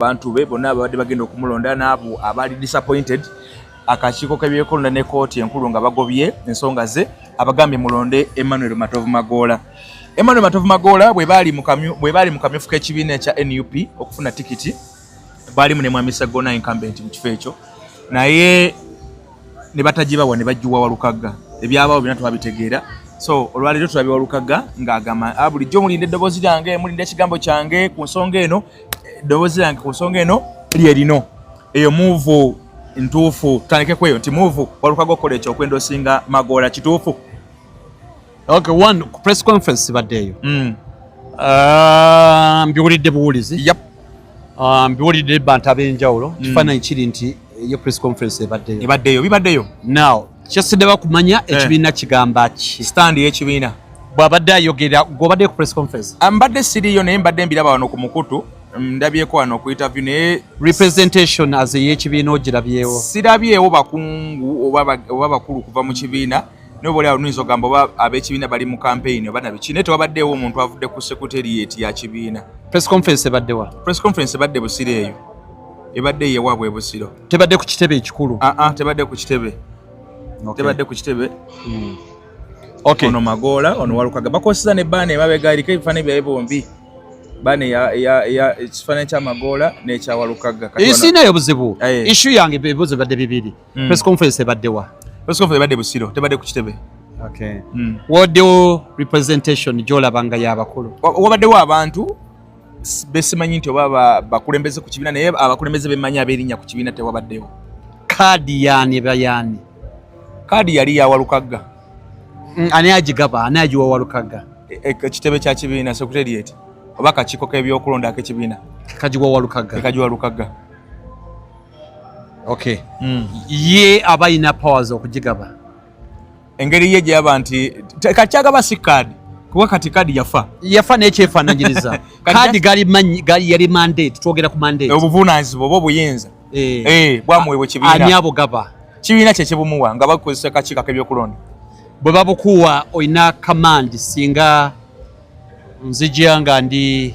bantu be bonna ababadde bagenda okumulonda n'abo abaali disappointed akakiiko k'ebyekulonda ne kooti enkulu nga bagobye ensonga ze abagambye mulonde emmanuel matovu magoola emmanuel matovu magoola bwe baali mu kamyufu k'ekibiina ekya nup okufuna tikiti baalimu ne mwami sagona incumbent mu kifo ekyo naye ne batagibawa ne bajjuwa walukagga ebyabawo byona twabitegeera so olwaleero tulabye walukagga ng'agamba ah, bulijjo mulinde eddoboozi lyange mulinde ekigambo kyange ku nsonga eno eddoboozi lyange ku nsonga eno lye lino eyo muuvu ntuufu tutandike kweyo nti muuvu walukaga okukola ekyo okwenda osinga magoola kituufu okay one ku press conference badde eyo mm. ah, mbiwulidde buwulizi yep. Ah, mbiwulidde bantu ab'enjawulo mm. kifaananyi kiri nti eyo press conference ebaddeyo ebaddeyo bibaddeyo now kyasidde bakumanya eh. ekibiina kigamba ki stand yekibiina bwabadde ayogera gwobadde ku press conference ah, mbadde siriyo naye mbadde mbiraba wano ku mukutu mm, ndabyeko wano ku interview naye representation as eyekibiina ogirabyewo sirabyewo bakungu oba bakulu kuva mu kibiina naye oba olyawo nuyinza ogamba oba abekibiina bali mu campaign oba nabiki naye tewabaddeewo omuntu avudde ku secretariat ya kibiina press conference ebaddewa press conference ebadde busiro eyo ebadde yewabwe busiro tebadde ku kitebe ekikulu ah, ah, tebadde ku kitebe tebadde ku kitebe hmm. ono magoola ono walukaga bakozesa ne baana emabega eriko ebifaananyi byaye bombi baana ekifaananyi kyamagoola nekyawalukaga isiinayo buzibu ishu yange ebibuzo bibadde bibiri hmm. press conference ebaddewa press conference ebadde busiro tebadde ku kitebe hmm. waddewo representation gyolabanga yabakulu wabaddewo abantu besimanyi nti oba bakulembeze ku kibiina naye abakulembeze bemanyi aberinnya ku kibiina tewabaddewo kaadi yaani eba yaani kaadi yali yawalukagga mm, ani agigaba ani agiwa walukagga e, e, ekitebe kya kibiina secretariat oba kakiiko k'ebyokulonda ak'ekibiina kagiwa walukagga kagiwa walukagga okay mm. ye aba alina powers okugigaba engeri ye gyeyaba nti kakyagaba si kaadi kuba kati kaadi yafa yafa nekyefananyiriza kaadi gali yali mandate twogera ku mandate obuvunanyizibwa oba obuyinza eh. Eh, bwamuwebwa ekibiina ani abo gaba kibiina kyekibumuwa nga bakozesa akakiiko akebyokulonda bwe babukuwa olina kamandi singa nzijya nga ndi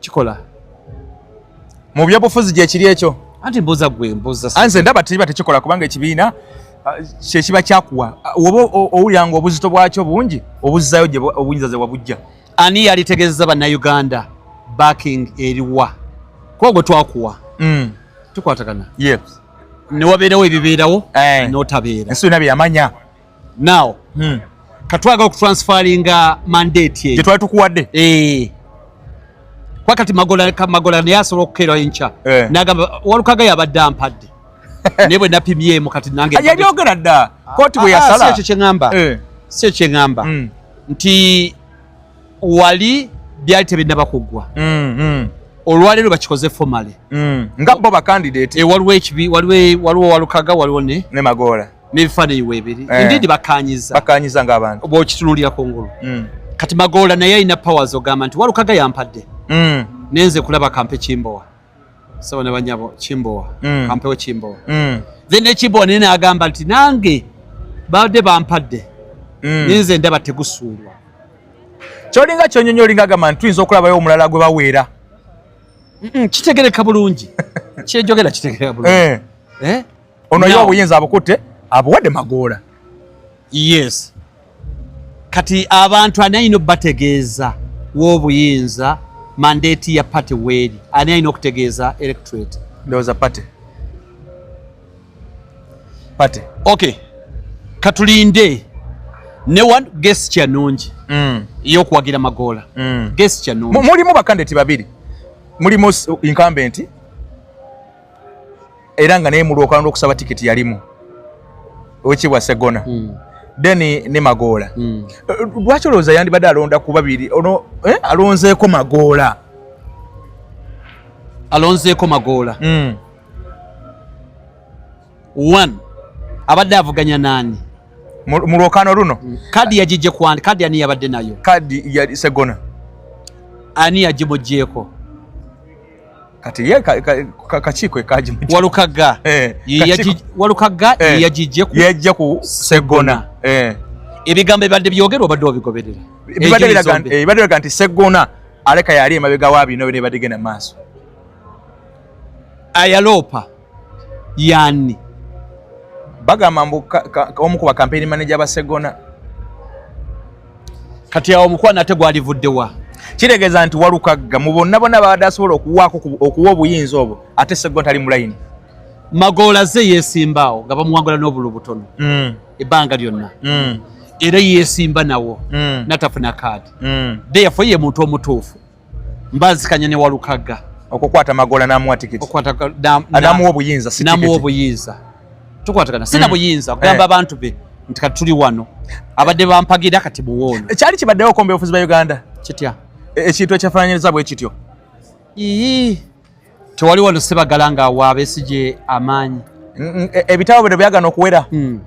kikola mu byobufuzi gyekiri ekyo anti mbuza gwe mbuza anze ndaba tiriba tekikola kubanga ekibiina ah, kyekiba kyakuwa ah, oba owulira nga obuzito bwakyo bungi obuzzayo gye obunyiza ze wabujja ani yalitegezeza bannayuganda backing eriwa kuba gwe twakuwa mm. tukwatagana yes newabeerawo ebibeerawo eh. notabeera ensi yona byeyamanya now hmm. katwaga okutransferinga mandate eyo twali tukuwadde eh. kwakati magola magola naye asobola okukeera enkya eh. nagamba walukaga yabadde ampadde naye bwe napimyemu kati nange ah, yabyogera dda kooti bwe ah, ah, yasala si ekyo kyeŋamba eh. si ekyo kyeŋamba hmm. nti wali byali tebinaba kuggwa hmm, hmm. olwaleero bakikoze fomale nga bo bakandidate waliwo ekibi waliwo walukaga waliwo ne magoola n'ebifaananyi weebiri eh. indeed bakaanyiza bakaanyiza ng'abantu bw'okitunuulira ku ngulu mm. kati magoola naye alina powers ogamba nti walukaga yampadde mm. nenze kulaba kampe kimbowa saba ne banyabo kimbowa mm. kampewo kimbowa then ekimbowa naye naagamba nti nange babadde bampadde nenze ndaba tegusuulwa kyolinga kyonyonyi olinga agamba nti tuyinza okulabayo omulala gwe baweera kitegereka bulungi kyejogera kitegereka bulungi eh. Eh? ono ye obuyinza abukutte abuwadde magoola yes kati abantu ani alina okubategeeza w'obuyinza mandeeti ya pate weeri ani alina okutegeeza electorate ndowooza pate pate ok katulinde ne one gesi kyanungi mm. eyokuwagira magoola mm. gesi kyanungi mulimu bakandidati babiri mulimu incumbenti era nga naye mulwoka lwokusaba tiketi yalimu owekibwa segona mm. then ne magoola mm. lwaki olowooza yandibadde alonda ku babiri ono eh? alonzeeko magoola alonzeeko magoola mm. one abadde avuganya nani mu lwokano luno mm. kadi yagijje kwani kadi ani yabadde nayo kadi ya segona ani yagimugyeko kati ye kakiiko ekajimenti walukagga eh, walukagga eh, yagijje ku yajja ku segona eh. ebigambo ebibadde byogerwa obadde obigoberera ebibadde biraga nti segona aleka yali emabega wa bino bino ebadde genda maaso ayaloopa yani bagamba mbu omu ku bakampeyini maneja basegona kati awo omukwano ate gwalivudde wa kitegeeza nti walukagga mu bonna bonna babadde asobola okuwaako okuwa obuyinza obwo ate segona tali mulayini magoola ze yeesimbaawo nga bamuwangula n'obulu butono mm. ebbanga lyonna mm. era yeesimba nawo mm. natafuna kaadi deyafoye ye muntu omutuufu mbazikanya ne walukaga okukwata magola namuwa tikiti okukwata namuwa obuyinza si namuwa obuyinza tukwatagana sina mm. buyinza kugamba eh. abantu be nti kati tuli wano abadde bampagira kati muwoono eh, kyali kibaddewo okomba obufuzi ba uganda kitya e, ekintu ekyafananyiriza bwe kityo ii tewali wano sebagala nga wa besigye amaanyi e, ebitabo bino byagana okuwera hmm.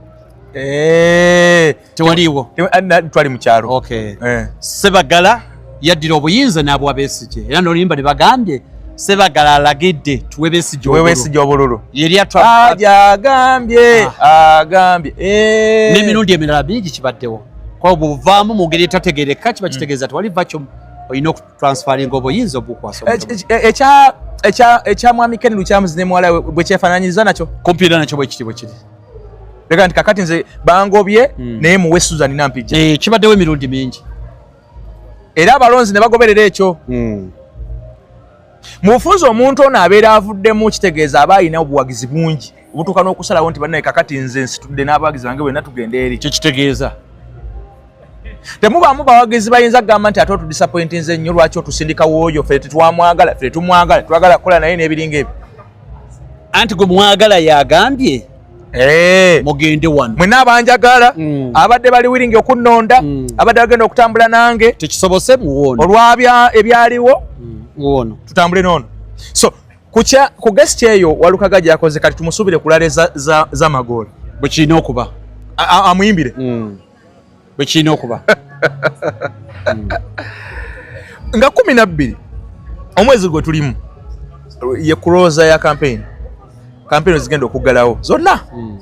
eh. tewaliiwo eh, twali mukyalo eh. sebagala yaddira obuyinza n'abwa besigye era nolimba ne bagambye sebagala alagidde tuwe besigye obululu yeriagambye ah, agambye n'emirundi emirala bingi kibaddewo kwao buvaamu mu ngeri etategereka kiba hmm. kitegeeza tewali vakyo olina transferring obuyinza obukwasa ekya ekya ekya mwami Ken Lukyamuzi ne muwala bwe kyefananyiriza nakyo kumpi era nakyo bwe kiti bwe kiri leka nti kakati nze bangobye mm. naye muwe Susan Nampijja eh kibaddewo emirundi mingi era abalonzi ne bagoberera ekyo mm. mufunza omuntu ono abeera avuddemu kitegeeza aba alina obuwagizi bungi obutuuka n'okusalawo nti bannaye kakati nze nsitudde n'abawagizi bange bwenna tugenda eri kyo kitegeeza temubaamu bawagizi bayinza kugamba nti ate otudisappointinze nnyo lwaki otusindika wooyo fe tetwamwagala fe tetumwagala twagala kukola naye n'ebiringa ebyo anti gwe mwagala yagambye eh. mugende wano mwena abanjagala mm. abadde bali wiringi okunnonda mm. abadde bagenda okutambula nange tekisobose muwono olwabya ebyaliwo mm. muwono tutambule noono so kukya ku guest eyo walukaga gyakoze kati tumusubire kulale za za, za magoli bwekirina okuba amuyimbire mm. bwekirina okuba mm. nga kumi nabbiri omwezi gwe tulimu ye kuroza ya campaign campaign zigenda okuggalawo zonna mm.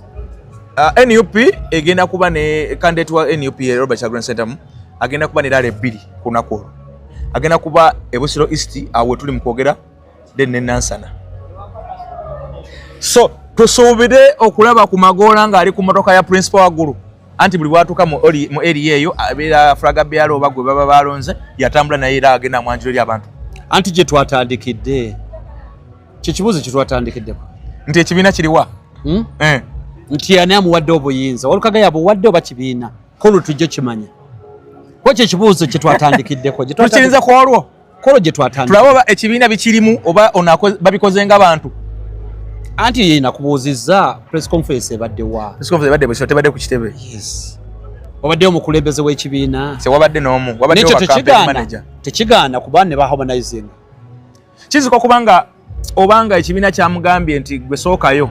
uh, nup egenda kuba ne candidate wa nup robert chagrin centam agenda kuba ne lala ebbiri ku lunaku olwo agenda kuba ebusiro east awo tuli mu kwogera then ne nansana so tusuubire okulaba ku magoola ng'ali ku motoka ya principal waggulu anti buli bwatuuka mu eriya eyo abeera fulaga byalo oba gwe baba balonze yatambula naye era agenda mwanjiro eri abantu anti gye twatandikidde kyekibuuzo kye twatandikiddeko nti ekibiina kiriwa hmm? eh. nti ani amuwadde obuyinza walukaga yabuwadde oba kibiina kulu tujja kimanya kwo kyekibuuzo kye twatandikiddeko tukiyinza ku olwo kolo gye twatandika tulaba ekibiina bikirimu oba onako babikoze nga bantu anti yeye nakubuuzizza press conference ebadde wa press conference ebadde bwesho tebadde ku kitebe yes wabadde omukulembeze w'ekibiina se wabadde n'omu wabadde wa campaign manager tekigaana kuba ne ba harmonizing kiziko kubanga obanga ekibiina kyamugambye nti gwe sookayo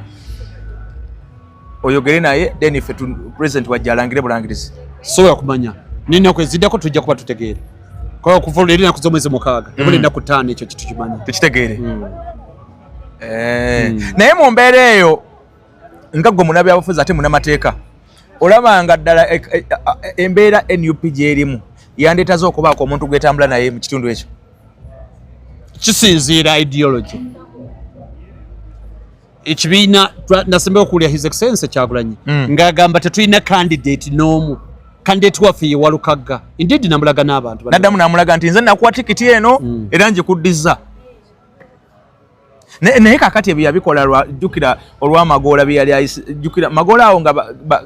oyogere naye then fe president wajja alangire bulangirizi sobola kumanya naye ennaku eziddako tujja kuba tutegeere kuba okuva olwo eri enaku z'omwezi mukaaga ebula mm. ennaku ttaano ekyo kitu kimanya tukitegeere mm. eh, mm. naye mu mbeera eyo nga gwe munabyabufuzi ate munamateeka olaba nga ddala e, e, e, embeera nup gyerimu yandeetaze okubaako omuntu gwetambula naye mu kitundu ekyo kisinziira ideology ekibiina nasemba okuwulira his excellence kyagulanyi mm. ng'agamba tetulina candidate n'omu kandidate waffe ye walukagga indeed namulaga n'abantu naddamu namulaga nti nze nakuwa tikiti eno mm. era njikuddiza naye kakati ebyo yabikola lwajjukira olwamagoola byeyali ayisjukira magoola awo nga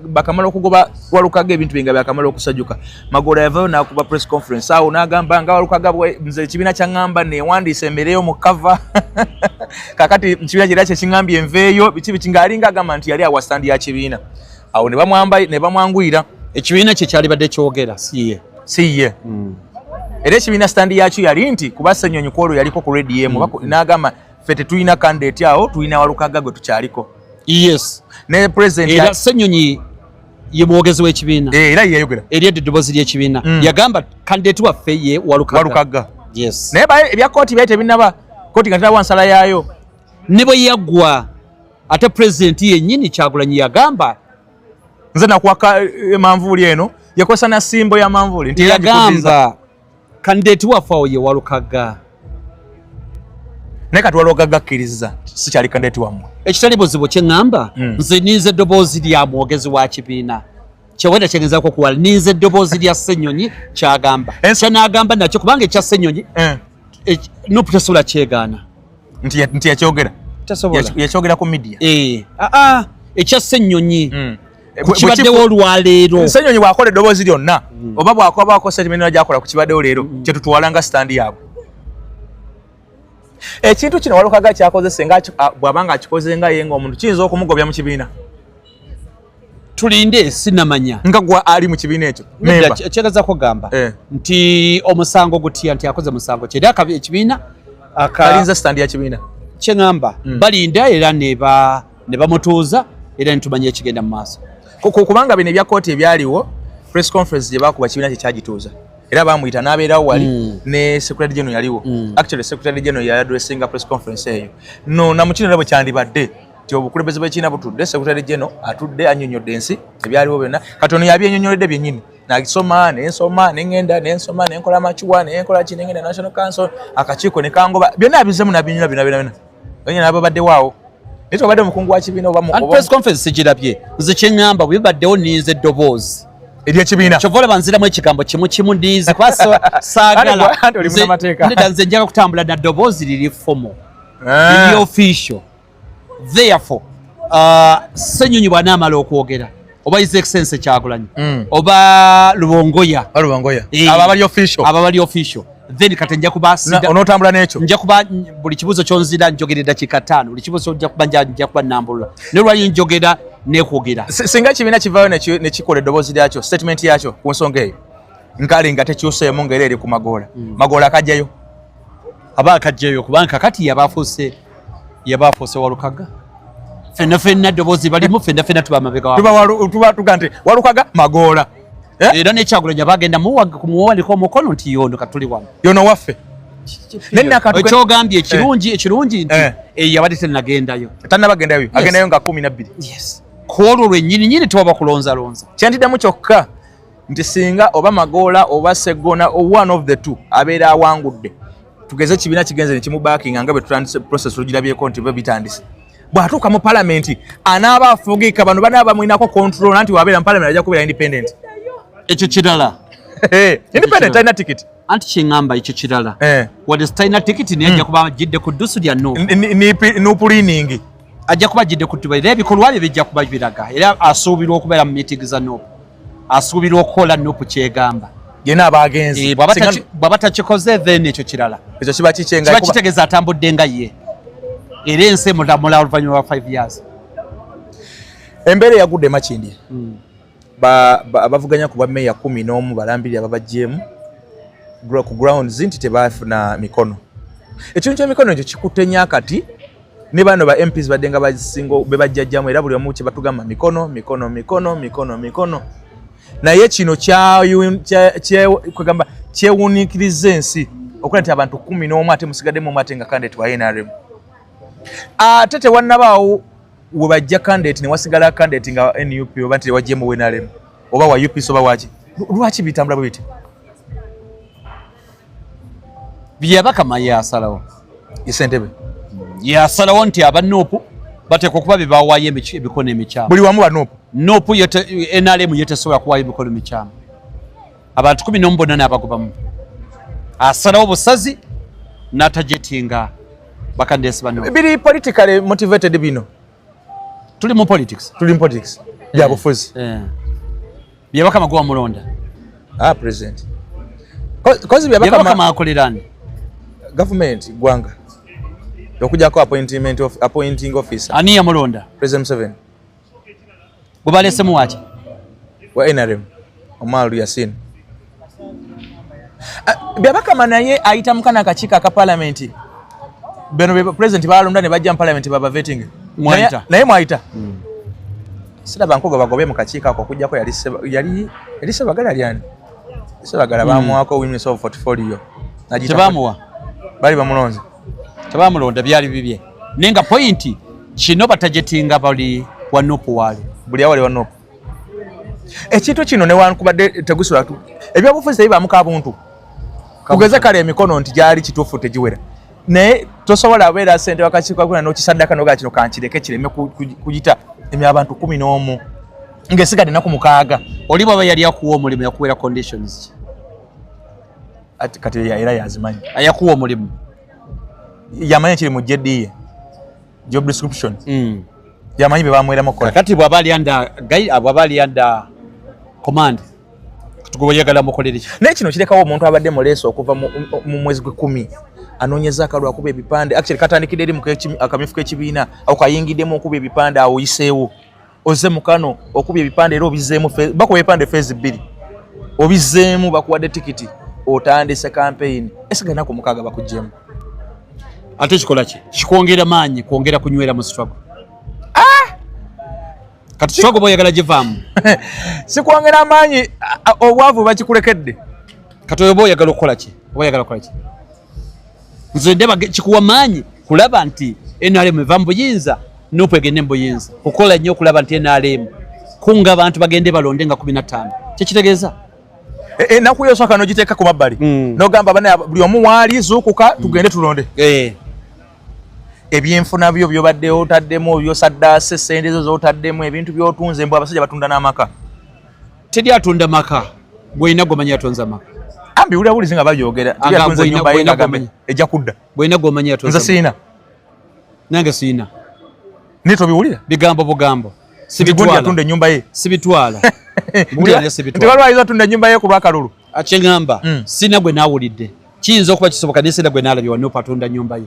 bakamala okugoba walukaga ebintu bye nga byakamala okusajuka magoola yavayo nakuba press conference awo nagamba nga walukaga nze ekibiina kyaŋŋamba newandiisa embeereyo mu kava kakati mukibiina kyera kyekiŋambye enveeyo biki biki ngaalinga agamba nti yali awasandi ya kibiina awo ne bamwanguyira ekibiina kye kyalibadde kyogera siye si ye mm. era ekibiina sitandi yakyo yali nti kuba senyonyi kwolwo yaliko ku redi emu mm. n'agamba ffe tetulina kandidati awo tulina walukagga gwe tukyaliko yes ne president era senyonyi ye mwogezi w'ekibiina eh, era yeyayogera eri edda eddoboozi ly'ekibiina mm. yagamba kandidati waffe ye walukagga yes naye ebya kooti byali tebinaba kooti nga tinawa nsala yaayo ne bwe yaggwa ate president yennyini kyagulanyi yagamba nze nakwaka eh, manvuuli eno yakozesa na simbo ya manvuuli nti yagamba kandidate waffe awo ye walukaga naye kati walukaga akkiriza sikyali kandidate wammwe ekitali buzibu kyeŋŋamba hmm. nze ninze eddoboozi lya mwogezi wa kibiina kyewenda kyegezako okuwala ninze eddoboozi lya ssenyonyi kyagamba eh. kyenagamba nakyo kubanga ekya ssenyonyi eh. nupu tesobola kyegaana nti nti yakyogera tasobola yakyogera ku media eh a ah, a ah, ekya senyonyi mm. Eh, kukibaddewo olwaleero senyonyi bwakola eddoboozi lyonna mm. oba bwakobaako sentimenera gyakola ku kibaddewo leero mm. kyetutwala nga sitandi yaabwe ekintu kino walukaga kyakozese nga bwabanga akikoze nga ye nga omuntu kiyinza okumugobya mu kibiina tulinde sinamanya nga gwa ali mu kibiina ekyo kyagaza kugamba eh. nti omusango gutya nti akoze musango kyeri akabi ekibiina akalinza sitandi ya kibiina kyeŋamba mm. balinda era neba ne bamutuuza era nitumanya ekigenda mu maaso kubanga bino ebya kooti ebyaliwo press conference gye bakuba kibiina kyekyagituuza era bamuyita n'abeerawo wali mm. ne secretary general yaliwo mm. actually secretary general yali addressinga press conference eyo no namukinera bwe kyandibadde nti obukulembeze bwekiina butudde sekutale geno atudde anyonyodde ensi ebyaliwo byonna kati ono yabyenyonyoledde byenyini nasoma nensoma nengenda nensoma nenkola amakiwa nenkola ki nengenda national council akakiiko nekangoba byonna abizemu nabinyula byona byona byona nabo baddewaawo naye tobadde omukungu wa kibiina obapress conference sigirabye nze kyeŋamba bwebibaddewo ninze eddoboozi ebyekibiina kyova olaba nziramu ekigambo kimu kimu ndiizi kuba saagala nze njaga kutambula na ddoboozi liri fomo eh. liri official therefore uh, senyonyi bwanamala okwogera oba his excellency kyagulanyi mm. oba lubongoya lubongoya eh, aba bali official aba bali official then kati nja kuba sida onotambula n'ekyo nja kuba buli kibuzo kyonzira njogera eddakiika ttaano buli kibuzo nja kuba nja kuba nambulula naye lwali njogera nekwogera singa ekibiina kivaayo nekikola eddoboozi lyakyo statement yakyo ku nsonga eyo nkale nga tekyuseemu ngaera eri ku magoola mm. magoola akajjayo aba akajjayo kubanga kakati yabafuuse yaba afuuse walukaga fenna fenna eddoboozi balimu fenna fenna tuba mabegatuba tuga nti walukaga magoola eh? era nekyagulanya bagenda muwaliko omukono nti yono katuli wano yono waffe ekyogambye ekirungi eh. ekirungi nti eh. eyabadde tenagendayo tanabagendayo agendayo nga kumi nabbiri kwolwo lwenyini nyini tewaba kulonzalonza kyentiddamu kyokka nti singa oba magoola oba seggona one of the two abeera awangudde tugeze ekibiina kigenze nekimubakinga nga bwetutandise process lugirabyeko nti be bitandise bwatuuka mu palamenti anaaba afugika bano banaaba bamwinako control nanti wabeera mu palamenti ajja kubeera independent ekyo kirala independent alina tikiti anti kyeŋamba ekyo kirala eh. wadde sitalina tikiti naye ajja hmm. kuba ajjidde ku ddusu lya nupuliningi ajja kuba ajjidde ku tuba era ebikolwa bye bijja kuba biraga era asuubirwa okubeera mu miitingi za nupu asuubirwa okukola nupu kyegamba yena abagenzi eh, bwaba takikoze then ekyo kirala ekyo kiba kikyengakiba kitegeeza atambudde nga ye era ensi emulamula oluvannyuma lwa 5 years embeera eyagudde emakindi hmm. abavuganya ku bwameeya kumi n'omu balambiri ababajjeemu ku grounds nti tebafuna mikono ekintu kyemikono ekyo kikutte nyo akati ne bano ba MPs badde nga basingo be bajjajjamu era buli omu kye batugamba mikono mikono mikono mikono mikono naye kino kyagamba kyewuniikiriza ensi okulaba nti abantu kumi n'omu ate musigaddemu omu ate nga kandidate wa nrm ate tewannabaawo we bajja kandidate ne wasigala kandidate nga nup oba nti tewajjemu nrm oba wa ups oba waki lwaki bitambula bwe bityo byabakama yasalawo isentebe yasalawo nti aba nupu bateekwa okuba bye bawaayo emikono emikyamu buli wamu banupu nupu nrm yetesobola kuwaayo emikono mikyamu abantu kumi nomu bonna naabagobamu asalawo busazi natajetinga bakandesi bano biri politically motivated bino tuli mu politics tuli mu politics byabufuzi yeah. yeah. Byabaka magowa mulonda. Ah president. Kozi byabaka byabaka makolerani. Government gwanga. Okuja ko appointment of appointing officer. Ani ya mulonda? President Seven. Gubale semu wacha. Wa NRM. Omaru Yasin. Ah, byabaka manaye ayita mukana kachika ka parliament. Beno president balonda ne bajja mu parliament baba vetting. Mwaita. Naye mwaita. Mm. siraba nkoga bagobe mu kakiiko ako okujjako yali yali sebagala lyani sebagala hmm. bamuwako witness of portfolio tebamuwa bali bamulonze tebamulonda byali bibye naye nga pointi kino batajetinga bali wanupu wali buli awali wanupu ekintu kino newankubadde tegusula ebyobufuzi tebibamuka buntu kugeza kale emikono nti gyali kituufu tegiwera naye tosobola abeera sente wakakiiko kakula nokisaddaka nogaa kino kankireke kireme kuyita emya abantu kumi n'omu ngaesigadde naku mukaaga oli bwaba yali akuwa omulimu yakuwera conditions kati era yazimanyi ayakuwa omulimu yamanyi ekiri mu jediye job description mm. yamanyi bebamweramu kakati bwaba ali anda bwaba ali anda command tugoyagala mukolere ki naye kino kirekawo omuntu abadde mu leeso okuva mu mwezi gw'ekkumi anoonyeza akalwa akuba ebipande actually katandikidde eri muakamyufu k'ekibiina awo kayingiddemu okuba ebipande awo oyiseewo oze mukano okuba ebipande era obizeemu bakuba ebipande feezi bbiri obizeemu bakuwadde tikiti otandise kampeyini esiga naku mukaaga bakugyemu ate kikola ki kikwongera maanyi kwongera kunywera mu struggle Kati struggle boy yagala jivamu. Sikwongera amaanyi obwavu bakikulekedde. Kati oyo boy yagala okukola ki? Oba yagala okukola ki? Nze ndeba kikuwa maanyi kulaba nti NRM eva mu buyinza nupu egende mu buyinza kukola nnyo okulaba nti NRM kunga abantu bagende balonde nga kumi na ttaano kyekitegeeza e, e, enaku yosaka nogiteeka ku mabbali mm. nogamba bana buli omu waali zuukuka mm. tugende tulonde eh. ebyenfuna byo byobadde otaddemu byosaddaase ssente zo zotaddemu ebintu byotunze mbu abasajja batunda n'amaka teri atunda maka gwolina gwomanyi atonze amaka ambi wulira bulizi nga babyogera ejja kudda gwolina gwomanyi atonze siina nange siina naye tobiwulira bigambo bugambo sibitwalaatunda enyumba ye sibitwala nti balwayiza atunda enyumba ye ku lwakalulu akyeŋamba hmm. siina gwe naawulidde kiyinza okuba kisoboka naye senda gwe nalabye wanupu atunda nyumba ye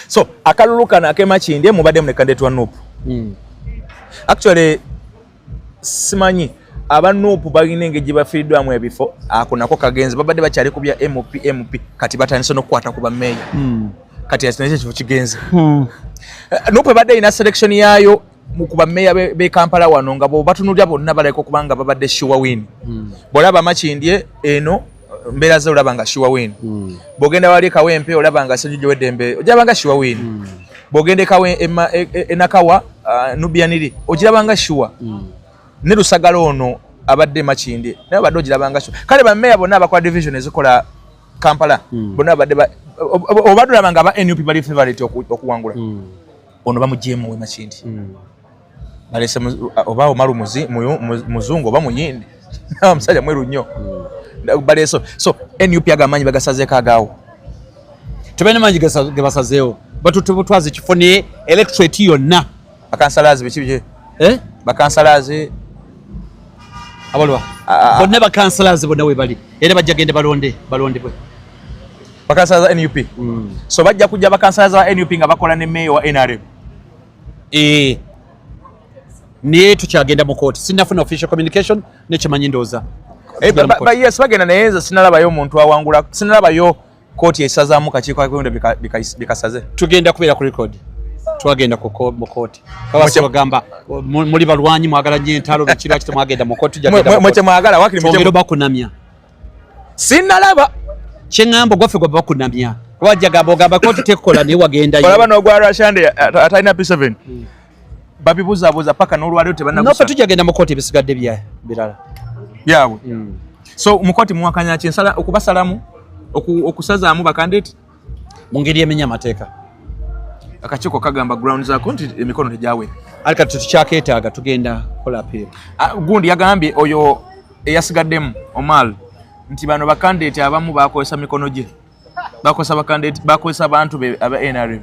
so akalulu kano akemakindye mubadde mulekandetwa nupu hmm. actually simanyi aba nupu balina engeri gye bafiiriddwamu ebifo ako nako kagenzi babadde bakyali ku bya mp mp kati batandise n'okukwata ku bameeya hmm. kati akinakyo ekifo kigenze hmm. nupu ebadde erina selection yaayo mukuba meya be Kampala wano nga bo batunulya bonna balaika okuba nga babadde sure win mm. bwolaba makindye eno mbeera ze olaba nga sure win mm. bwogenda wali kawempe olaba nga sejujo weddembe ojaba nga sure win mm. bwogenda ekawe e, e, enakawa uh, nubianiri ogiraba nga sure mm. ne lusagala ono abadde makindye naye obadde ogiraba nga sure kale bameya bonna abakola division ezikola kampala mm. bonna abadde obadde olaba nga aba nup bali favorite okuwangula mm. ono bamugyemu we makindi hmm. balese oba omalu muzungu oba muyindi omusajja mweru nnyo hmm. baleso so nup ago amaanyi bagasazeeko agaawo tebalina maanyi gebasazeewo batutwaza ekifo ne electorate yonna bakansalazi biki biki eh? bakansalazi abalwa bonna bakansalazi bonna webali era bajja gende balonde balondebwe bakansala za nup mm. so bajja kujja bakansala za nup nga bakola ne meeya wa nrm eh. naye tukyagenda mu kooti sinafuna official communication nekimanyi ndooza eh, yes bagenda naye nze sinalabayo omuntu awangula sinalabayo kooti esazamu kakiiko kakwenda bikasaze tugenda kubeera ku record twagenda mu kooti babasibagamba muli balwanyi mwagala nyo entalo bikiraki temwagenda mu kooti mwagala wakiri bakunamya sinalaba kyeŋŋamba ogwaffe gwe bakunamya wajja gamba ogamba koti tekola naye wagendayo olaba n'ogwa rashande atalina p7 hmm. babibuzabuza paka n'olwaliro tebanafe tujja genda mu koti ebisigadde birala byabwe hmm. so mukoti muwakanya ki nsala okubasalamu okusazaamu bakandeti mu ngeri emenya amateeka akakiiko kagamba ground zako nti emikono tegyawe ali kati tetukyaketaaga tugenda kola apeera ah, gundi yagambye oyo eyasigaddemu omal nti bano bakandidate abamu bakozesa mikono gye bakozesa bakandidate bakozesa bantu be aba nrm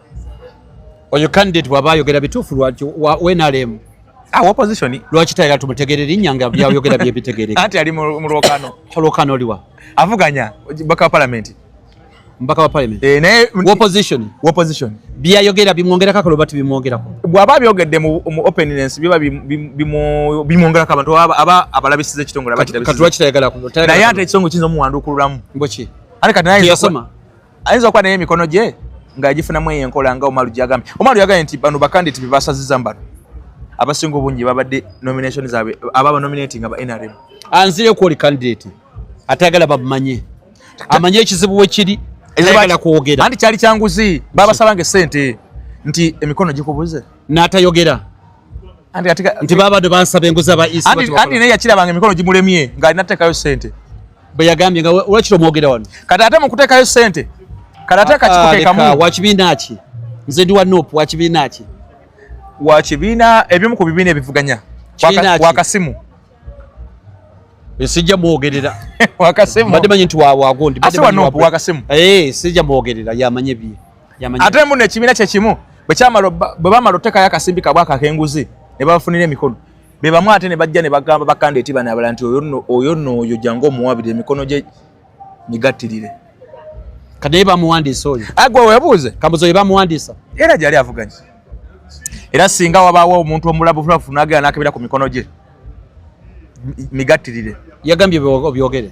oyo candidate bwaba ayogera bituufu lwaki wa nrm awa ah, opposition lwaki tayira tumutegere linnya nga byayogera byebitegereka anti ali mu lwokano olwokano oliwa avuganya baka wa palamenti mpaka wa parliament eh naye opposition opposition bia yogera bimwongera kakalo bati bimwongera ko bwaba byogedde mu openness biba bimu bimwongera kaba to aba abalabisize kitongora bati katwa kitayagala ko naye ate kisongo kinzo muwandukululamu mbochi ale kati naye yasoma ayinza okuba naye emikono gye ng'agifunamu eyo enkola nga omalu gyagambye omalu yagambye nti bano bakandidati bebasaziza mbano abasinga obungi babadde nomination zaabwe ababa nominating aba nrm anzire kwoli candidate atayagala bamumanye amanye ekizibu wekiri tayagala kwogera anti kyali kyanguzi babasabanga esente nti emikono gikubuze n'atayogera nti babadde bansaba enguzi aba isi anti naye yakirabanga emikono gimulemye ng'alina teekayo sente bwe yagambye nga wakiri omwogera wano kati ate mukuteekayo ssente kati ate akakikuteekamu ah, wakibiina ki nze ndi wa nop wakibiina ki wakibiina ebimu ku bibiina ebivuganya wakasimu sijja mwogerera wakasimbadde manyi nti wawagondi wakasimu eh, sijja mwogerera yamanye bye ate muno ekibiina kyekimu bwe bamala otekayo akasimbi kabwa akakenguzi ne babafunira emikono be bamu ate ne bajja ne bagamba bakanda eti bana abala nti oyo nooyo jangu omuwabire emikono gye migattirire kati naye bamuwandiisa oyo agwa webuuze kambuza oyo bamuwandiisa era gyali avuganya era singa wabaawo omuntu omulabu fulafu nagera nakebera ku mikono gye migattirire yagambye byogere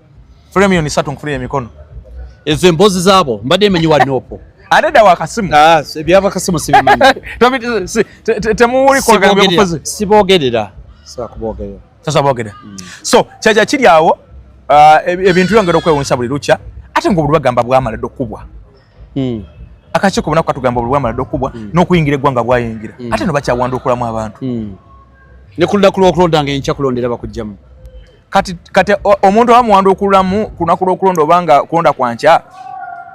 funa emiliyoni satu nkufunire emikono ezo emboozi zaabo mbadde emenyi wa noopo ate da wakasimu ah, ebyaba kasimu sibimanyitemulikogamufuzibogerera sakubogerera sasa bogerera hmm. so kyaja kiri awo ah, ebintu byongera okwewunyisa buli lukya ate nga obuli bagamba bwamala dde okukubwa hmm. akakiiko bunaku katugamba obuli bwamala dde okukubwa hmm. n'okuyingira eggwanga bwayingira ate no bakyawandukulamu abantu ne ku lunaku lw'okulonda nga enkya kulondera bakujjamu kati kati omuntu abamuwanda okululamu ku lunaku lw'okulonda oba nga kulonda kwa nkya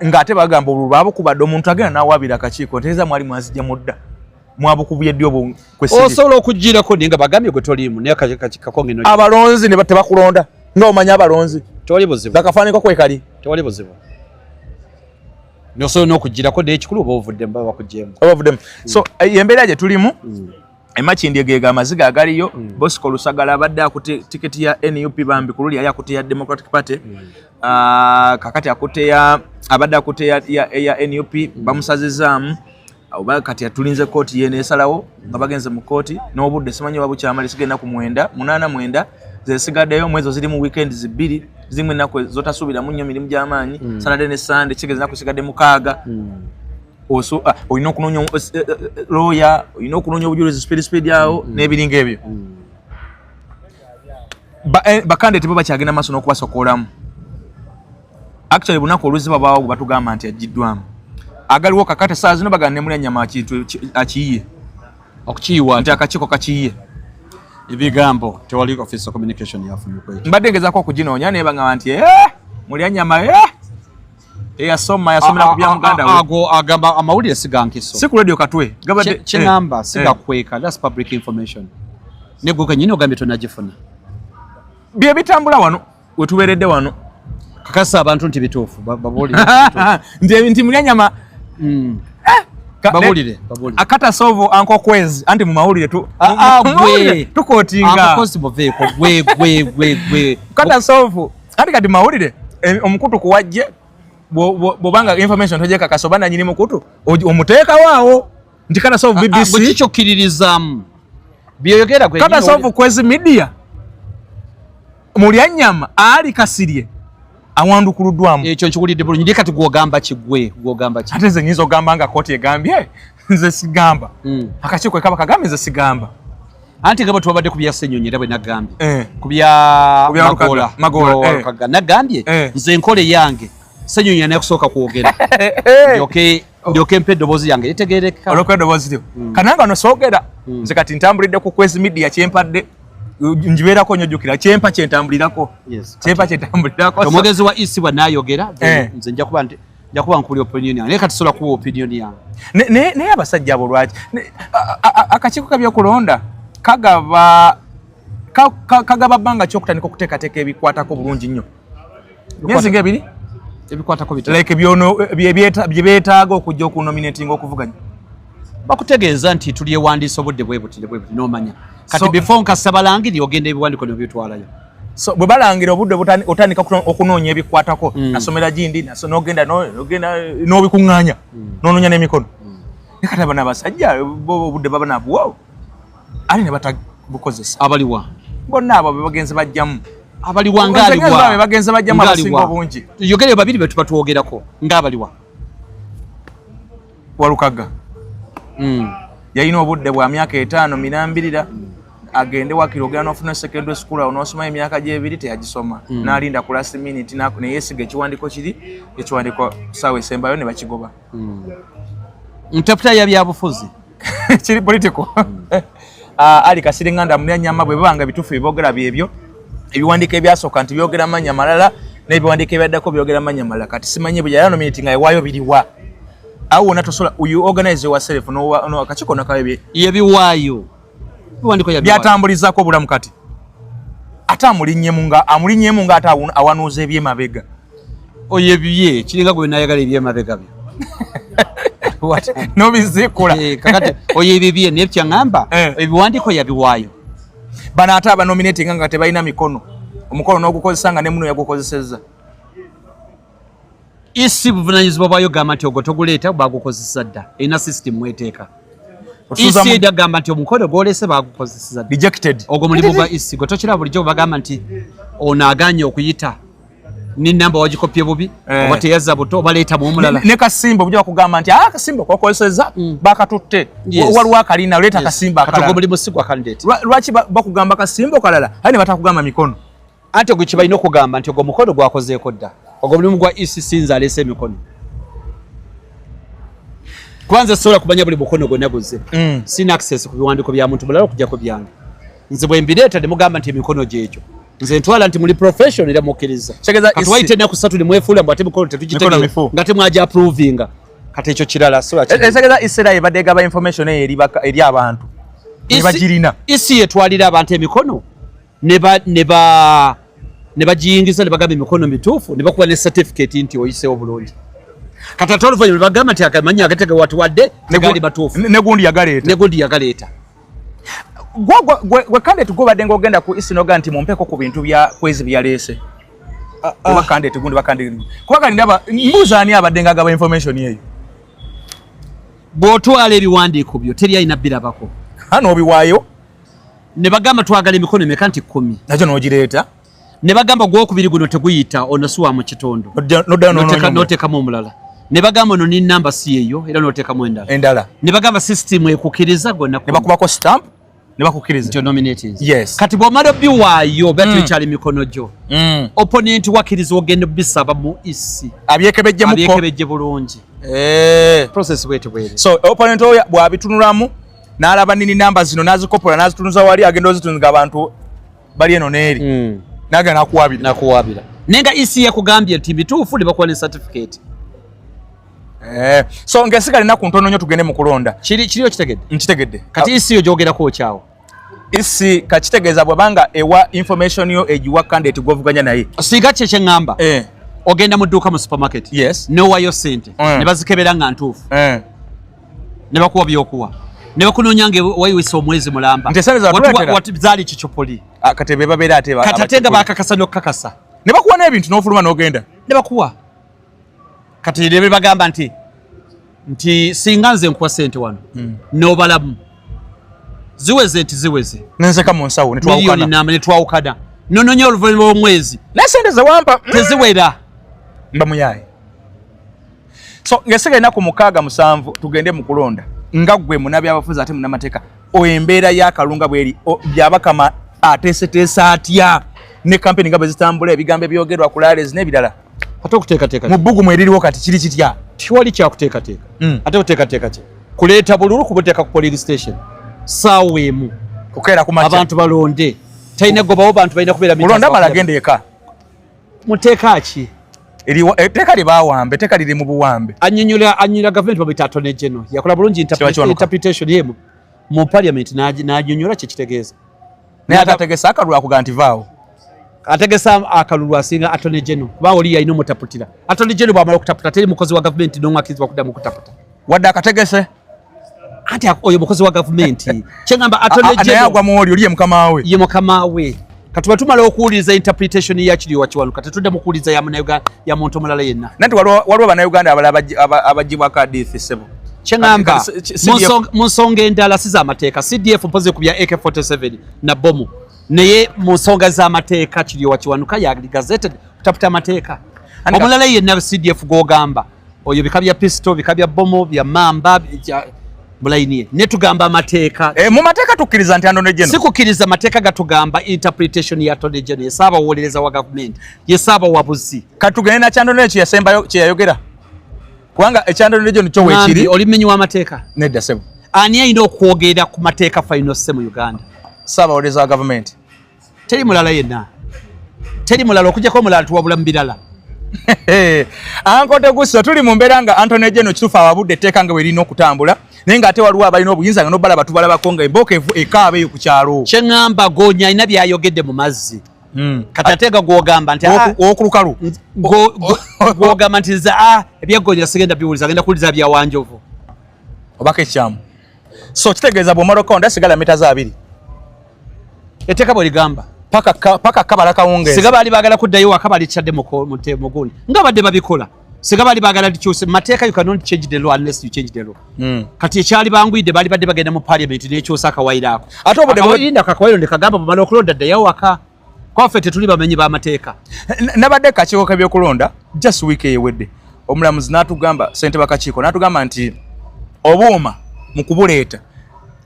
ng'ate bagamba obululu baabukubadde omuntu agenda n'awaabira akakiiko ntegeeza mwali mwazijja mudda mwabukubye ddi obwo osobola okugirako naye nga bagambye gwe toliimu naye kakako ngeno abalonzi ne tebakulonda nga omanya abalonzi tewali buzibu gakafaaniko kwekali tewali buzibu nosobola n'okugirako naye ekikulu oba ovuddemu baba bakugyemu oba ovuddemu so embeera gye tulimu mm. emakindye gega amaziga agaliyo mm. bosco lusagala abadde akute tiketi ya nup bambi kululi yali akute ya democratic party mm. uh, kakati akute ya abadde akute ya, ya, ya nup mm. bamusazizaamu oba kati atulinze kooti yene esalawo nga bagenze mu kooti n'obudde simanyi oba bukyamala esiga ennaku mwenda munaana mwenda zesigaddeyo mwezo ziri mu weekend zibbiri zimu ennaku zotasuubiramu nnyo mirimu gy'amaanyi mm. salade ne sande kigeza ennaku esigadde mukaaga mm. oso ah, olina okunoonya eh, eh, eh, looya olina okunoonya obujulizi speed speed awo mm, mm. n'ebiringa ebyo mm. bakande tebo bakyagenda maaso n'okubasokolamu actually bunaku oluzi babaawo gwe batugamba nti ajjiddwamu agaliwo kakate saa zino baganda nemuli anyama akiyiye okukiyiwa nti akakiiko kakiyiye ebigambo tewali office communication yafunyukwe mbadde ngezako okuginoonya nebangamba nti muli anyama eyasoma yasomera ku byamuganda ago agamba amawulire sigankiso si ku radio katwe gabadde kinamba eh, sigakweka eh. that's public information ne gwe kenyini ogambye tonagifuna bye bitambula wano we tuberedde wano kakasa abantu nti bituufu babulire nti nti mulya nyama mm. eh, babulire babulire akata sovo anko kwezi anti mu mawulire tu ah, ah, gwe tukotinga anko kwezi boveeko gwe gwe gwe gwe kata sovo Kati kati mawulire eh, omukutu kuwajje bwobanga information tojekakasa oba nanyini mukutu omuteekawo awo nti kana sovu ah, ah, bbc bwekikyokiririzaamu byoyogera kana sovu kwezi media mulyanyama ali kasirye awandukuluddwamu ekyo nkiwulidde bulungi naye kati gwogamba kigwe gwogamba ki ate nze nyinza ogamba nga kooti egambye nze sigamba hmm. akakiiko ekaba kagambye nze sigamba anti nga bwe twabadde ku bya senyonyi era bwe nagambye eh. ku bya magoola nagambye eh. nze enkola eyange senyonyi anakusooka kwogera eh. ndyoke mpa eddoboozi yange litegerekeka olwokuba eddoboozi lyo hmm. kananga no soogera hmm. nze kati ntambulidde ku kwezi midiya kyempadde njibeerako nyo jukira kyempa kyentambulirako kyempa kyentambulirako omwogezi wa isi bwanayogera nze nja kuba nti njakuba nkubuli opinion yange naye katisobola kuba opinion yange naye abasajja abo lwaki akakiiko kabyokulonda kagaba kagaba bbanga ki okutandika okuteekateeka ebikwatako bulungi nnyo myezi nga ebiri ebikwatako like bye beetaaga okujja okunominatinga okuvuganya bakutegeeza nti tulyewandiisa obudde bwebuti nebwebuti nomanya kati before nkasaba langiri ogenda ebiwandiko nebitwalayo so bwe balangira obudde otandika okunoonya ebikwatako mm. nasomera gindi nogenda n'obikuŋŋaanya mm. nononya n'emikono mm. nekati abana abasajja obudde baba nabuwa ali ne batabukozesa abaliwa bonna abo bebagenzi bajjamu abaliwa ngaaliwa bebagenzi bajjamu abasinga obungi yogere babiri betuba twogerako ngaabaliwa Walukaga mm. yalina obudde bwa myaka etaano mirambirira agende wakiri ogenda nofuna secondary school awo nosoma emyaka gyebiri teyagisoma mm. nalinda ku last minute neyesiga ekiwandiko kiri ekiwandiko sawa esembayo nebakigoba mm. ntaputa yabyabufuzi kiri political mm. Ah, ali kasiri nganda mulya nyama bwe banga bitufu bibogera byebyo ebiwandika ebyasoka nti byogera manya malala ne biwandika ebyaddako byogera manya malala kati simanye bwe yalano minute nga ewayo biliwa awo na tosola you organize yourself no no akachiko na kabe ye biwayo biwandiko ya byatambuliza ko bulamu kati ata mulinyemu nga amulinyemu nga ata awanuze bye mabega oyo ebibye kiringa gwe nayagala ebyemabega byo nobizikula eh, kakati oyo ebibye naye kyaŋamba eh. ebiwandiiko yabiwaayo bano ate abanominatinga nga tebalina mikono omukono n'ogukozesa nga ne muno yagukozesezza isi buvunanyizibwa bwayo gamba nti ogwo toguleeta bagukozesa dda erina system mweteeka isi eda gamba nti omukono gwolese bagukozesa ogwo mulimu gwa isi gwe tokira bulijjo bagamba nti ono aganye okuyita ne namba wagikopye bubi eh. oba teyazza buto oba leeta bwomulala ne kasimba obuja bakugamba nti ah kasimba kwakozeseza mm. bakatutte waliwo akalina leeta kasimba akalala buli musigwa candidate lwaki bakugamba kasimba okalala aye ne batakugamba mikono ate ogwo kibalina okugamba nti ogwo mukono gwakozeeko dda ogwo mulimu gwa ecc nze aleese emikono kwanza sobola kumanya buli mukono gwonna guzze mm. sina access ku biwandiiko bya muntu mulala okujjako byange nze bwe mbireeta ne mugamba nti emikono gyekyo nze ntwala nti muli profession era mukkiriza katuwaite ennaku satu ne mwefuula mbu ate mukolo tetugitegera nga temwaja approvinga kati ekyo kirala siekitegeeza e, isera ebadde egaba information eyo eri abantu ebagirina isi yetwalira abantu emikono ne bagiyingiza ne bagamba emikono mituufu ne bakuba ne certificate nti oyiseewo bulungi kati ate oluvannyuma ne bagamba nti akamanya agategewatiwadde negali matuufu negundi yagaleeta gwe kande tugobadde ngaogenda ku isinoga nti mumpeko ku bintu bya kwezi byaleese ah, ah. oba kande tigundi bakande kuba kali ndaba mbuuza ani abadde nga agaba information eyo bw'otwala ebiwandiiko byo teri alina birabako hano obiwaayo ne bagamba twagala emikono emeka nti kumi nakyo n'ogireeta ne bagamba gwokubiri guno teguyita ono si wa mu kitundu notekamu omulala ne bagamba ono ni namba si yeyo era notekamu endala ne bagamba system ekukiriza gonakubako stamp kati bwomala obiwaayo bati mm. ekyali mikono gyo mm. opponent wakiriza ogenda obisaba mu isi e abyekebejje bulungi eh. opponent oyo bwabitunulamu nalaba nini namba zino nazikopola nazitunuza wali agenda ozitunza abantu bali eno neeri mm. naga nakuwabira nakuwabira naye nga ec yakugambye nti bituufu ne bakuwa ne certificate eh, so ngaesigala enaku ntono nyo tugende mu kulonda kiriyo kitegedde nkitegedde kati ec yo gyogerako okyawo isi kakitegeeza bwebanga ewa information yo egiwa candidate gwovuganya naye singa kye kyeŋŋamba eh. ogenda mu dduuka mu supermarket yes nowayo sente mm. ne bazikebera nga ntuufu eh. ne bakuwa byokuwa ne bakunoonya nga wayiwisa omwezi mulamba zaali kicupuli ah, kati bebabeera ate kati ate nga bakakasa n'okukakasa ne bakuwa n'ebintu n'ofuluma n'ogenda ne bakuwa kati ne bagamba nti nti singa nze nkuwa sente wano hmm. n'obalamu ziweze nti ziweze nenzeka mu nsawo netwawukana nononya oluvanyuma lw'omwezi naye sente zewampa hmm. teziwera mba muyaye so ngesiga enaku mukaaga musanvu tugende mu kulonda nga gwe munabyabafuzi ate munamateeka embeera yakalunga bweri byabakama ateeseteesa atya ne kampeni nga bwe zitambula ebigambo ebyogerwa ku lales n'ebirala ate okuteekateeka mu bbugumu eririwo kati kiri kitya tiwali kyakuteekateeka hmm. ate kuteekateeka ki kuleeta bululu kubuteeka ku poliri station saawa emu kukeera ku abantu balonde talina gobawo bantu balina kubeera mulonda mala agenda eka muteeka ki etteeka eh, lye bawambe etteeka liri mu buwambe anyonyola anyonyola gavumenti babita atone geno yakola bulungi interpretation yemu mu parliament n'anyonyola kye kitegeeza naye ate ategesa akalulu akuga nti vaawo ategesa akalulu asinga atone geno kuba oli yalina omutaputira atone geno bwamala okutaputa teri mukozi wa gavumenti n'omwakirizibwa kuddamu okutaputa wadde akategese anti oyo mukozi wa gavumenti kyengamba atoneyagwa muoli oli ye mukama we ye mukama we katuba tumala okuwuliriza interpretation ya kiriwa kiwanuka tetudde mukuwuliriza ya muntu omulala yenna nanti waliwo banauganda abala abajibwako adithi sebo kyengamba mu nsonga endala si zamateeka cdf mpozi ku bya ak47 na bomu naye mu nsonga zamateeka kiriwa kiwanuka yali gazeted kutaputa amateeka omulala yenna cdf gwogamba oyo bika bya pisto bika bya bomo bya mamba bulainiye netugamba amateeka e, mu mateeka tukkiriza nti anone geno sikukiriza amateeka gatugamba interpretation ya tone geno yesaaba wolereza wa gavumenti yesaaba wabuzi katugende nakyandone ekyo yasembayo kyeyayogera kubanga ekyandone geno kyo wekiri oli mmenyi w'amateeka nedda sebo ani ayina okwogera ku mateeka faino se mu uganda saaba wolereza wa gavumenti teri mulala yenna teri mulala okujako omulala tuwabula mu birala ankote gusa tuli mu mbeera nga antony jeno kitufu awabudde etteeka nga werina okutambula naye nga ate waliwo abalina obuyinza nga nobala batubalabako nga emboka evu ekaaba eyo ku kyalo kyeŋamba gonya alina byayogedde mu mazzi hmm. kati ate ga gwogamba nti ah, okulukalu gwogamba nti za ah, ebyegonya sigenda biwuliza agenda kuwuliza byawanjovu obako ekyamu so kitegeeza bwomala okawunda sigala mita za abiri eteeka bwe ligamba paka kabala kawungeezi singa baali baagala kuddayo waka balikyadde mugundi nga badde babikola singa baali baagala likyuse mateeka you cannot change the law unless you change the law hmm. kati ekyali banguyidde baali badde bagenda mu parliament nekyusa akawairo ako ate obudde akawairo ndekagamba bumala okulonda ddayo waka kwaffe tetuli bamenyi b'amateeka nabadde kakiiko kebyokulonda just week eyewedde omulamuzi n'atugamba sente bakakiiko n'atugamba nti obuuma mu kubuleeta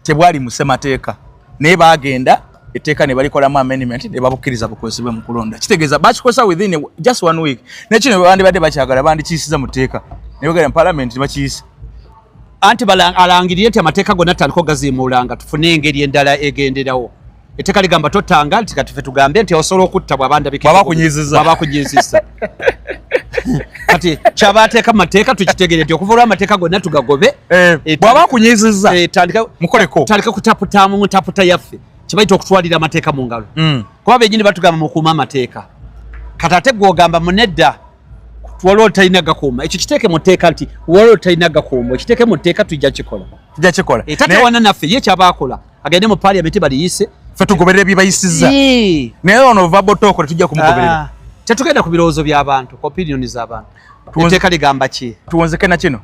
tebwali musemateeka naye baagenda etteeka ne balikolamu amendment ne babukkiriza bukozesebwe mu kulonda kitegeeza bakikozesa within just one week nekino bandibadde bakyagala bandikiyisiza mu tteeka ne bagenda mu palamenti ne bakiyisa anti alangirire nti amateeka gonna tutandika ogaziimuulanga tufune engeri endala egenderawo Etteka ligamba tottanga nti kati fe tugambe nti osobola okutta bwaba ndabikwabakunyizizabakuyizisa kati kyaba ateeka mu mateeka tukitegere nti okuva olwa amateeka gonna tugagobe eh, eh, bwaba akunyiziza eh, mukoleko tandika kutaputa mu mutaputa yaffe kibayita okutwalira amateeka mu ngalo hmm. kuba benyini batugamba mukuuma amateeka kati ate gwogamba munedda waliwo talina gakuuma ekyo kiteeke mu tteeka nti waliwo talina gakuuma ekiteeke mu tteeka tujja kikola tujja kikola etatewana naffe ye kyaba akola agende mu parliament baliyise fe tugoberera ebibayisiza naye ono vabo toko tetujja kumugoberera ah. tetugenda ku birowoozo by'abantu ku opinioni z'abantu etteeka ligamba ki tuwonzeke na kino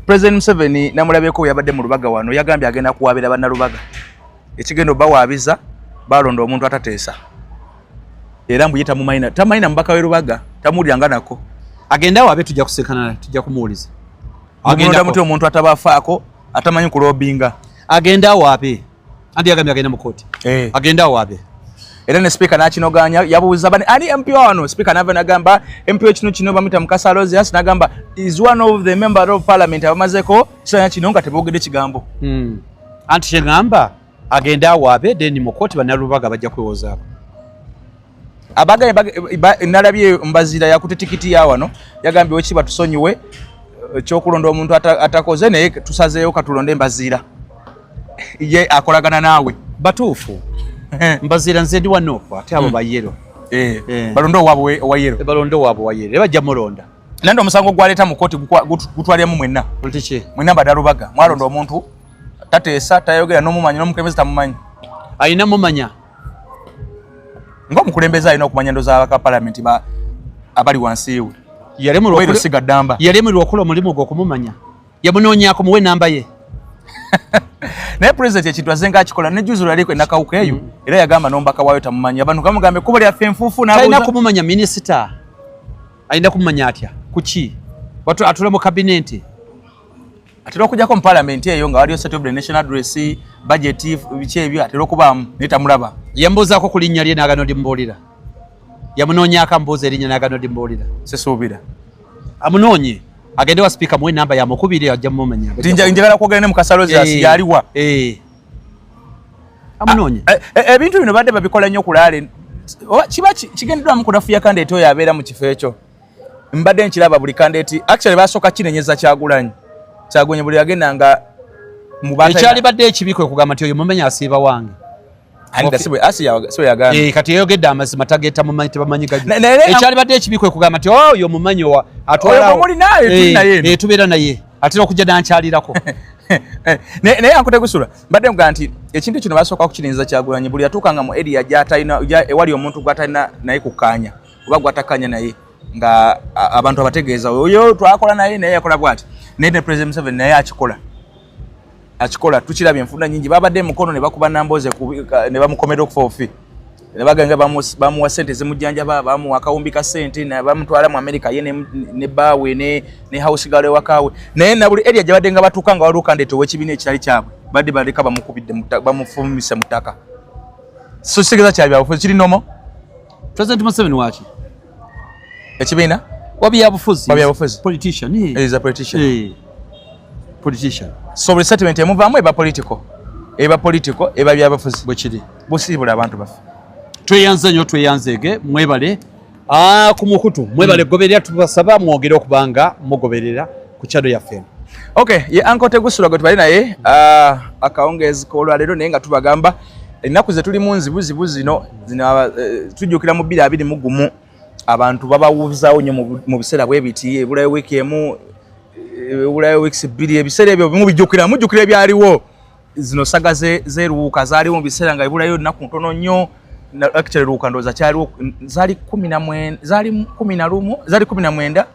president museveni namulabyeko yabadde mu lubaga wano yagambye agenda kuwaabira bannalubaga ekigenda obawaabiza balonda omuntu atateesa era mbuye tamumayina tamayina mubaka we lubaga tamuwulira nga nako agenda waabe tujja kusekana tujja kumuwuliza agenda muti omuntu atabafaako atamanyi kulobinga agenda wapi andi agamya agenda mukoti eh. agenda wapi era ne speaker nakinoganya yabuuza bani ani mp wano speaker nava nagamba mp wekino kino bamuyita mukasa rosias nagamba is one of the member of parliament abamazeko kisanya kino nga tebogede kigambo hmm. anti kyegamba agende awaabe then mu kooti banalubaga bajja kwewozaako abaganye nalabye mbazira yakute tikiti ya wano yagambye weki batusonyiwe eh, kyokulonda omuntu atakoze ata naye tusazeeyo katulonde mbazira ye akolagana naawe batuufu eh. mbazira nze ndi wanofu ate abo hmm. bayero eh, balonde owabwe owayero balonde owabwe owayero ebajja mulonda nandi omusango gwaleeta mu kooti gutwaliramu mwenna mwenna badalubaga mwalonda omuntu tateesa tayogera nomumanya nomukebezi tamumanyi alina mumanya nga omukulembeze alina okumanya endo zabaka palamenti abali wansi we yalemerwa okola omulimu gwe okumumanya yamunonyako muwe enamba ye naye president ekintu azenga akikola nejuzi lwaliko enakawuka eyo mm. era yagamba nombaka wayo tamumanyi abantu gamugambe kubo lyaffe enfuufu talina kumumanya minisita alina kumumanya atya kuki atula mu kabinenti atera okujako mu parliament eyo nga waliyo state of the national address budget biki ebyo atera okubaamu naye tamulaba yambuuzaako ku linnya lye nagano limubuulira yamunoonyaako amubuuza erinnya nagano limubuulira sisuubira amunoonye agende wa sipiika muwe enamba yamukubiri ajja mumumenya njagala kwogera ne mukasalozi eh, yaliwa eh. amunoonye ah, eh, ebintu bino badde babikola nnyo kulaale kiba kigendeddwamu kunafuya kandi ete oyo abeera mu kifo ekyo mbadde nkiraba buli kandidate actually basooka kinenyeza kyagulanyi kyagulanyi buli yagenda nga mubaekyalibadde ekibi kwe kugamba nti oyo mumenya asiiba wange eh, kati eyogedde amazima tageta mumanyi tebamanyi ekyalibadde ekibi kwe kugamba nti oh, oyo mumanyi wa atwalatubeera eh, naye atera okujja dankyalirako eh, naye ankute gusula mbadde mugaa nti ekintu kino basooka kukirinza kyagulanyi buli yatuukanga mu eria ewali omuntu gwatalina naye kukkaanya oba gwatakanya naye nga abantu abategeeza oyo twakola naye naye yakola bwati naye ne president museveni naye akikola akikola tukiraba enfunda nyingi babadde emukono nebakuba namboze nebamukomera okufa ofi nebaganga bamuwa sente zimujjanjaba bamuwa akawumbi ka sente bamutwala mu amerika ye ne baawe ne house galo ewakaawe naye nabuli eria gyabadde nga batuuka nga waliwo kandete owekibiina ekitali kyabwe badde baleka bamukubidde bamufumisa mu ttaka so kitegeza kyabyabufuzi kiri nomo President Museveni waki? Ekibiina? Wabyabufuzi. Wabyabufuzi. Politician. He is a politician. Hey. Politician. So resettlement emuvaamu eba political. Eba political, eba byabufuzi. Bwekiri. Busiibula abantu baffe. Tweyanze nnyo tweyanzeege mwebale. Ah, ku mukutu mwebale mm. goberera tubasaba mwogere okubanga mugoberera. ku chado yaffe eno okay ye anko tegusula gwe tubali naye uh, akawungeezi k'olwaleero naye nga tubagamba ennaku ze tulimu nzibuzibu zino zino uh, tujjukira mu bbiri abiri mu gumu abantu babawuzaawo nnyo mu biseera bwe biti ebulayo wiiki emu ebulayo wiiki bbiri ebiseera ebyo bimu bijjukira mujjukira ebyaliwo zino saga zeruwuka zaaliwo mu biseera nga ebulayo nnaku ntono nnyo actually luka ndoza kyaliwo zali 10 zali 10 lumu zali 10 mwenda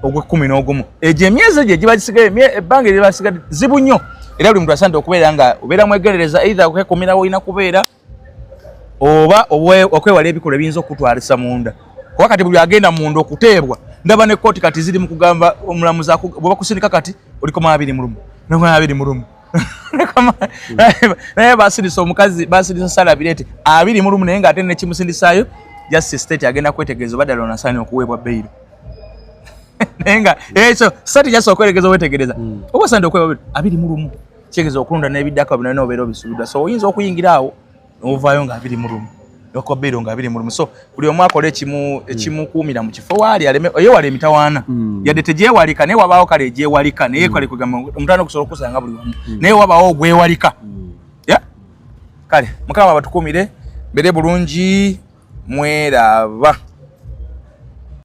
ogwekumi n'ogumu egyo emyezi egyo egiba gisigaye ebbanga eriba gisigadde zibu nnyo era buli muntu asande okubeera nga obeera mwegerereza eithe okwekumira wolina kubeera oba okwewala ebikolwa ebiyinza okukutwalisa munda kuba kati buli agenda munda okuteebwa ndaba ne kooti kati ziri mu kugamba omulamuzi bwebakusindika kati oliko mu abiri mulumu nabiri mulumu naye basirisa omukazi basirisa salabirete abiri mulumu naye ngaate nekimusindisaayo just state agenda kwetegereza oba ddala onasaani okuweebwa beyiro naye nga ekyo eh, sati just okweregeza owetegereza hmm. oba osaanide okuweebwa abiri mulumu kitegeeza okulonda n'ebiddako binona obeera obisubiddwa so oyinza okuyingira awo ovaayo nga abiri mu lumu nokobeero nga abiri mu lumu so buli omu akola ekimu hmm. ekimukuumira mu kifo waali aleme eyewala emitawaana hmm. yadde tegyewalika naye wabaawo kale egyewalika naye hmm. kale kugamba omutana okusobola okusanga buli wamu naye wabaawo ogwewalika kale mukama batukuumire mbere bulungi mweraba